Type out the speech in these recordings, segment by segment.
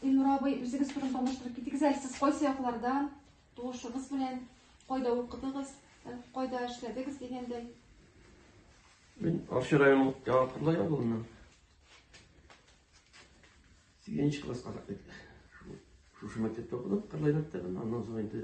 Илнур абый, үзегез турын таныштырып китегез әле, сез кайсы яклардан, туышыгыз белән, кайда укыдыгыз, э, кайда эшләдегез дигәндәй. Мин Арча районы Яңакурда ягылыннан. Сигенче класска кадәр шушы мәктәптә укыдым, Кырлай мәктәбен, аннан соң инде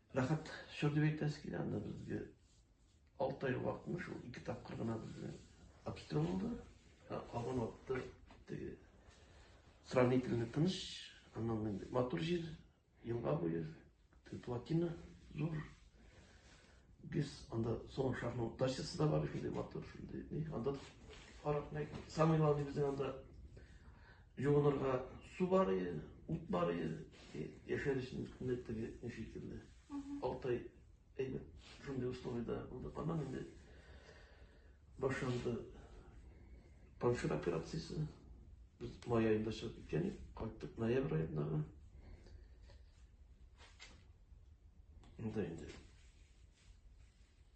Рәхәт чор дип әйтәсе килә анда безгә. Алты ай вакытны шул ике тапкыр гына безгә обстрел булды. Калган вакытта теге сравнительно тыныч, аннан инде матур җир, елга буе, плотина зур. Без анда соңгы шарның дачасы да бар, шундый матур, шундый. Анда карап, самый главный безнең анда Юынырга су бар иде, ут бар иде, яшәр өчен менә теге ни шикелле. Алты ай әйбәт шундый условиеда булдык. Аннан инде башланды паншир операциясе. Без май аенда чыгып киткән идек, кайттык ноябрь аенда гына. Монда инде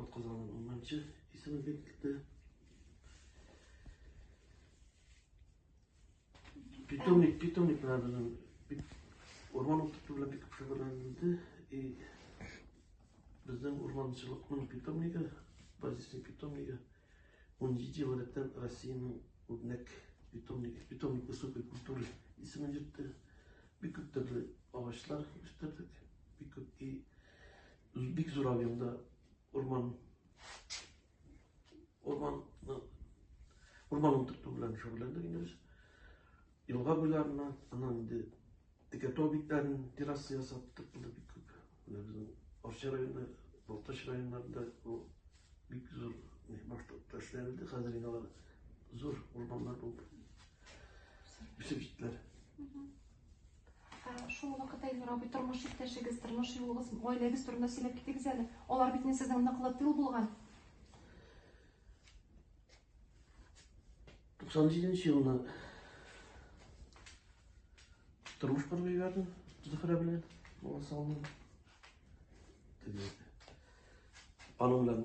Атказанның унынчы исеме дип китте. Питомник, питомник менә безнең урман утырту белән бик шөгыльләнде. И безнең урманчылыкның питомнигы, базисный питомнигы 17 ел рәттән Россиянең үрнәк питомник, питомник высокой культуры исемен йөртте. Бик күп төрле агачлар үстердек. Бик күп и Бик зур объемда урман урман урман утырту белән шөгыльләндек инде без. Елга буйларына, аннан инде текәтау битләрен терраса ясап тыртылды бик күп. Менә безнең Арча районы, Балтач районнарында бу бик зур башта эшләнде, хәзер инде алар зур урманнар булып үсеп җиттеләр. Шул вакытта Илнур абый тормыш иптәшегез, тормыш юлыгыз, гаиләгез турында сөйләп китегез әле. Алар бит сезнең ныклы тыл булган. 97 елны тормыш корып җибәрдем Зөһрә белән бала салдым теге аның белән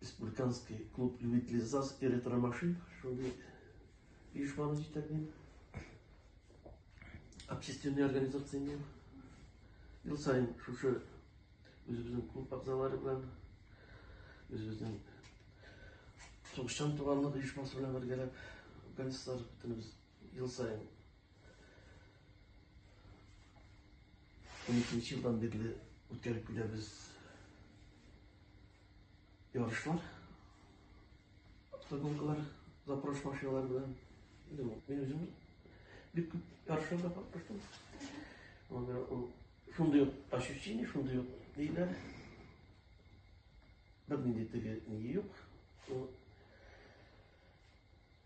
Республиканский клуб любителей ЗАЗ и ретромашин, шундый оешманы җитәклим. Общественный организация инде. Ел сайын шушы үзебезнең клуб әгъзалары белән үзебезнең сугышчан туганлык оешмасы белән бергәләп гангстер бөтенебез ел сайын он икенче елдан бирле үткәреп киләбез Ярышлар, гонкалар, запрос машиналар белән. Мин үзем бик күп ярышларда катнаштым. Анда ул шундый ук ощущение, шундый ук ниләр. Бернинди теге ни юк.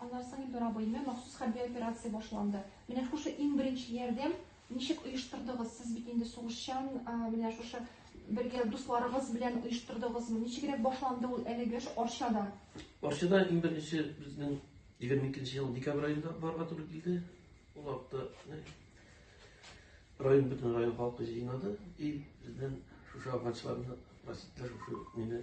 Аннан соң Илдор абыйны махсус хәрби операция башланды. Менә шушы иң беренче ярдәм ничек оештырдыгыз? Сез бит инде сугышчан, менә шушы бергә дусларыгыз белән оештырдыгызмы? Ничегрәк башланды ул әлеге эш Арчада? Арчада иң беренче безнең 22 ел декабрь аенда барга туры килде. Ул вакытта район бөтен район халкы җыенады и бездән шушы афганчыларны, расистлар шушы мине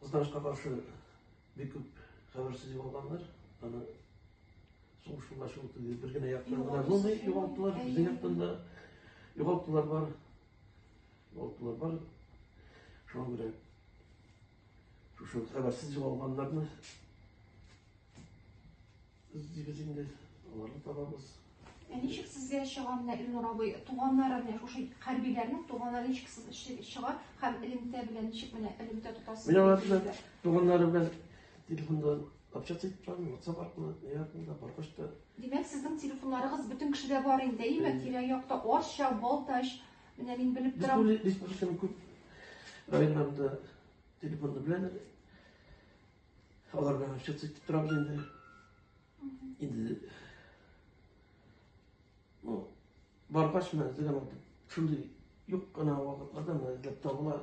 Кызганычка каршы, бик күп хәбәрсез югалганнар. Аны сугыш юлда шул түгел, бер генә яктан гына булмый, югалтулар, безнең яктан да югалтулар бар. Югалтулар бар. Шуңа күрә шушы хәбәрсез югалганнарны Без дибез инде, аларны табабыз. Ә ничек сезгә чыга менә Илнур абый, туганнары менә шушы хәрбиләрнең туганнары ничек сез чыга һәм элемтә белән ничек менә элемтә тотасыз? Менә алар белән туганнары белән телефонда общаться итеп торам, WhatsApp аркылы, не аркылы, баргач та. Димәк, сезнең телефоннарыгыз бөтен кешедә бар инде, әйме? Тирә-якта Арча, Балтач, менә мин белеп торам. Республиканың күп районнарында телефонны беләләр. Алар белән общаться итеп торабыз инде. Инде ну, баргач менә дигән шундый юк кына вакытларда менә эзләп табыла.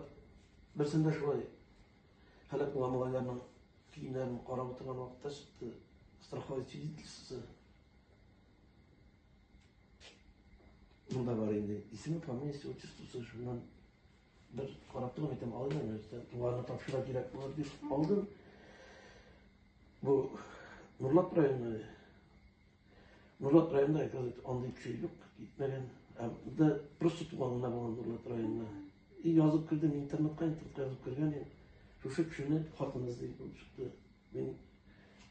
Берсендә шулай һәлак булган малайларның киемнәрен карап утырган вакытта чыкты страховой свидетельствосы. Мында бар инде. Исеме, фамилиясе, отчествосы, шуннан Бер карап торып әйтәм, алайда нәрсә, тугарга тапшыра кирәк булыр дип алдым. Бу Нурлат районы. Нурлат районында әйтәлек андый кеше юк, китмәгән. Ә да просто туганына булган Нурлат районында. И язып кердем интернетка, интернетка язып кергән. Шушы кешене хатыныгыз дип чыкты. Мин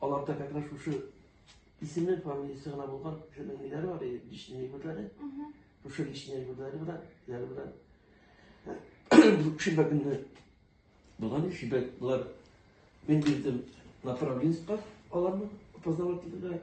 Аларда как раз шушы исемнең фамилиясе гына булган кешенең ниләре бар, личный әйберләре. Шушы личный әйберләре белән, ниләре белән. Шимбә көнне булган шимбә болар мен бирдем направленецка аларны опознавательныйга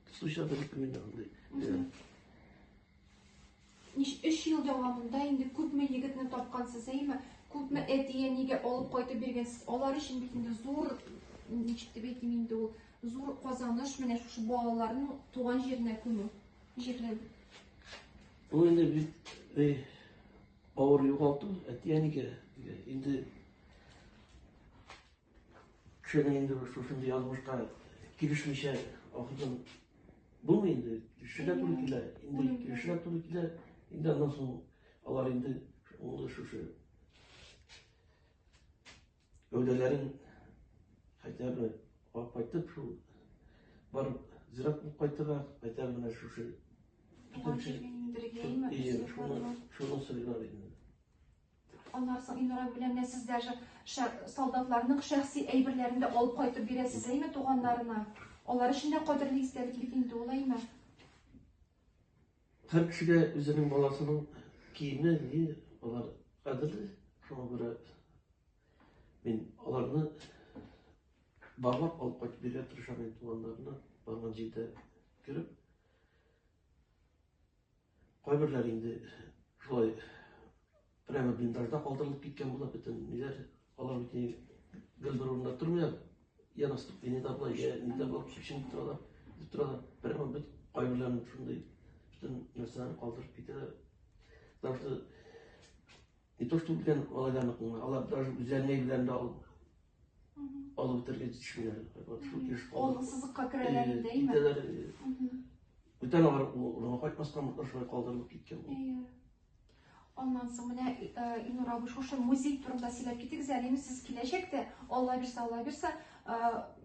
Суча да рекомендовали. Ниш эш ел дәвамында инде күпме егетне тапкансыз, әйме? Күпме әтие нигә алып кайтып биргәнсез? Алар өчен бит инде зур ничек дип әйтим инде ул зур казаныш менә шушы балаларның туган җиренә күмү. Җирләү. Бу инде бит э, авыр югалту, әти-әнигә инде Кешегә инде шушындый язмышка килешмичә ахырдан булмый инде. Кешегә туры килә. Инде кешегә туры килә. Инде аннан соң алар инде ул шушы гәүдәләрен хотя бы алып кайтып шул барып зират булып кайтырга хотя бы менә шушы шуны сыйлар инде. Аннан соң Илнурай белән менә сез даже солдатларның шәхси әйберләрен дә алып кайтып бирәсез, әйме, туганнарына. Алар өчен дә кадерле истәлек бит инде ул, әйме. Һәр кешегә үзенең баласының киеме, ни, алар кадерле. Шуңа күрә мин аларны барлап алып кайтып бирә тырышам инде туганнарына, барган җирдә кереп. Кайберләр инде шулай прямо блиндажда калдырылып киткән була бөтен ниләр. Алар бит гел бер урында тормыйлар. Я на ступени да була, я нидә була, күчен торалар, дип торалар. Прямо бит кайберләрен шундый бөтен нәрсәләрен калдырып китәләр. Даже не то, что белән алардан алар даже үзләренә белән дә алып Алып бетерге төшмиләр. Вот шул кеш калды. Ул сызыкка керәләр инде, әйме? Китәләр. Бүтән алар улына кайтмастан мутта шулай калдырылып киткән. Әйе. Аннан соң менә Илнур абый шушы музей турында сөйләп китегез әле. Инде сез киләчәктә, Алла бирсә, Алла бирсә,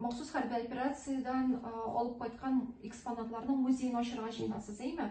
махсус хәрби операциядән алып кайткан экспонатларның музеен ачырга җыенасыз, әйме?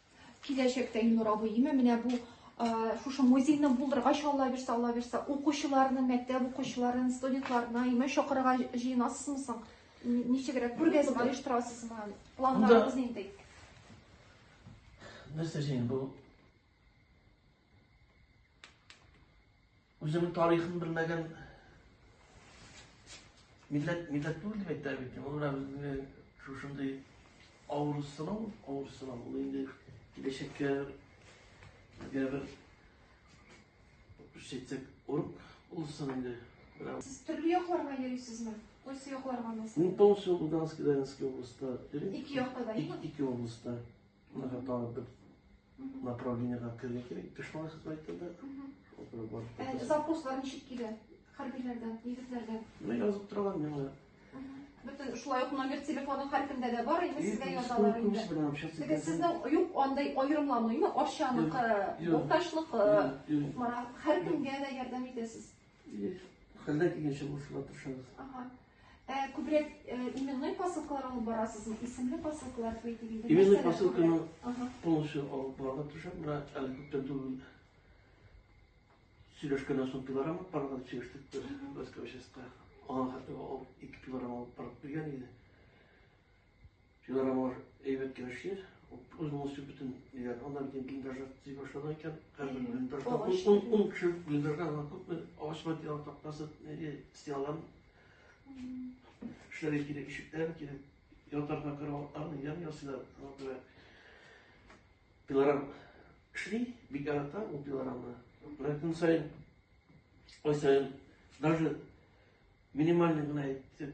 Киләчәктә Илнур абый име менә бу шушы музейны булдыргач алла бирсә алла бирсә укучыларны мәктәп укучыларын студентларны имә чакырырга җыенасызмы соң ничегрәк күргәзмә оештырасызмы планнарыгыз нинди нәрсә җыен бу Үземнең тарихын белмәгән милләт милләт түгел дип әйтә бит. Ул менә безне шушындый авыр сынау, авыр сынау. Ул инде киләчәккә безгә бер шәйтсәк урып булсын инде. Сез төрле якларга йөрисезме? Кайсы якларга насыйп? Ну, полностью Луганская, Донецкая областьта. Ике якта да, ике областьта. Мына тагын бер направлениега керергә кирәк, дошман хезмәтендә. Э, Запрослар ничек килә? Хәрбиләрдән, егетләрдән. Менә язып торалар миңа. Бөтен шулай ук номер телефоны һәркемдә дә бар, инде сезгә язалар инде. Теге сезнең юк андай аерымлануймы? Арчаныкы, Балтачныкы, һәркемгә дә ярдәм итәсез. Хәлдә килгәнчә булышырга тырышабыз. Ага. Ә, э, күбрәк э, именной посылкалар алып барасызмы? Исемле посылкалар бит диген. Именной посылканы полностью алып барырга тырышам. Менә әле күптән түгел сөйләшкәннән соң пилорам алып барырга дип сөйләштек без Аңа хәтта алып, ике пилорам алып барып биргән иде. Шулар алар әйбәт килешер. Үз мусу бөтен дигән. Анда бит блиндажа төзи башлады икән. Хәзер блиндажда ун ун кеше блиндажда ана күпме агач материал тактасы неге стеналар. Эшләр кирәк, ишекләр кирәк. Ятарга караватлар, ян ясыйлар. Алар пилорам шли, бик ярата ул пилорамны. Менә көн сайын, ай сайын, даже минимальный гына әйтеп,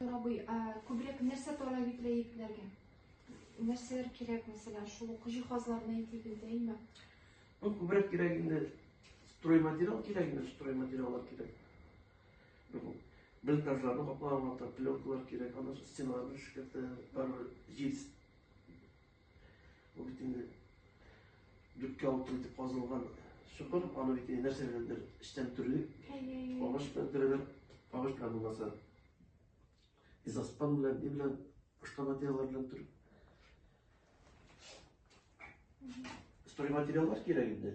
Абый, ә күбрәк нәрсә тора бит ләетләргә? Нәрсәләр кирәк, мәсәлән, шул ук җиһазларны әйтик инде, әйме? Ну, күбрәк кирәк инде стройматериал кирәк инде, стройматериаллар кирәк. Ну, блиндажларны каплаган вакытта пленкалар кирәк, аны стеналарны шикәртә, бар җил Ул бит инде дүрткә алты итеп казылган чокыр, аны бит инде нәрсә беләндер эчтән төрле. Агач белән төрәләр, агач белән булмаса. Изаспан белән, ни белән, башка материаллар белән төр. Строй материаллар кирәк инде.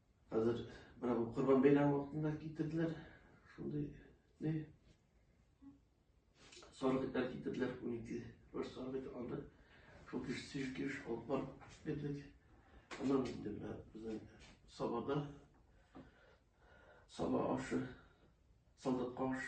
Хәзер менә бу Корбан бәйрәме вакытында китерделәр. Шундый не? Сарык итләр китерделәр 12 бер сарык ит анда. Шул кеш сиш кеш алып барып бирдек. Аннан инде менә безнең сабада саба ашы, солдат аш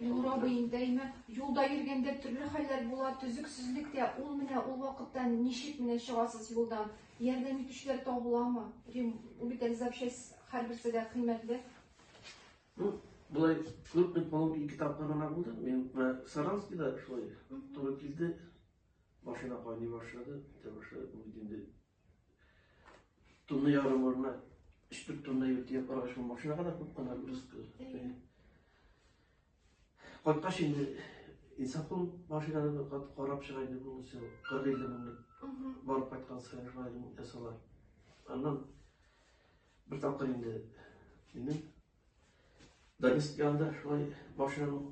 Нур абый интәйме, юлда йөргәндә төрле хәлләр була, төзексезлектә, ул менә ул вакытта ничек менә чыгасыз юлдан? Ярдәм итүчеләр табыламы? Рим, ул бит әле запчасть һәрберсе дә кыйммәтле. Ну, былай күрпек балык ике тапкыр гына булды. Мин менә Саранскида шулай туры килде. Машина кайный башлады, китә башлады. Ул инде Тонны ярым орна, өчтүк тонны ертия параш бу машина гына күп кына рызкы. Кайткач инде инсапыл машинаны карап чыга иде бу сел 40 елда меңлек. Барып кайткан сайын шулай ясалар. Аннан бер тапкыр инде минем Дагестанда шулай машинаның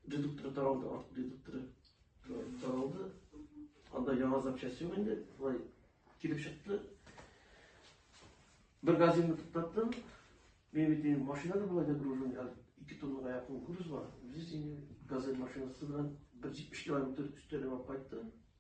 Редуктор таралды, арт редукторы таралды. Анда яңа запчасть юк инде, былай килеп чыкты. Бер газинны туктаттым. Мен бит инде машинада былай да гружен, әле 2 тоннаға якын груз бар. Без инде газель машинасы белән 170 километр өстәлеп алып кайтты.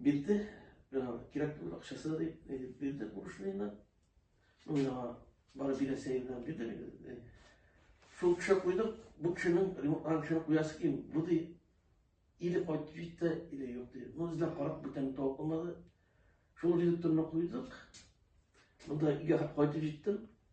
Бирде, миңа кирәк түгел акчасы да дип, әйтеп бирде бурышныйны. Ну, миңа бары бирәсе генә бирде миңа. Шул кеше куйдым, бу кешенең ремонтлан кешене куясы ким, бу ди. Или кайтып җитте, или юк ди. Ну, эзләп карап, бүтән тауып алмады. Шул редакторны куйдык. Монда өйгә кайтып җиттем.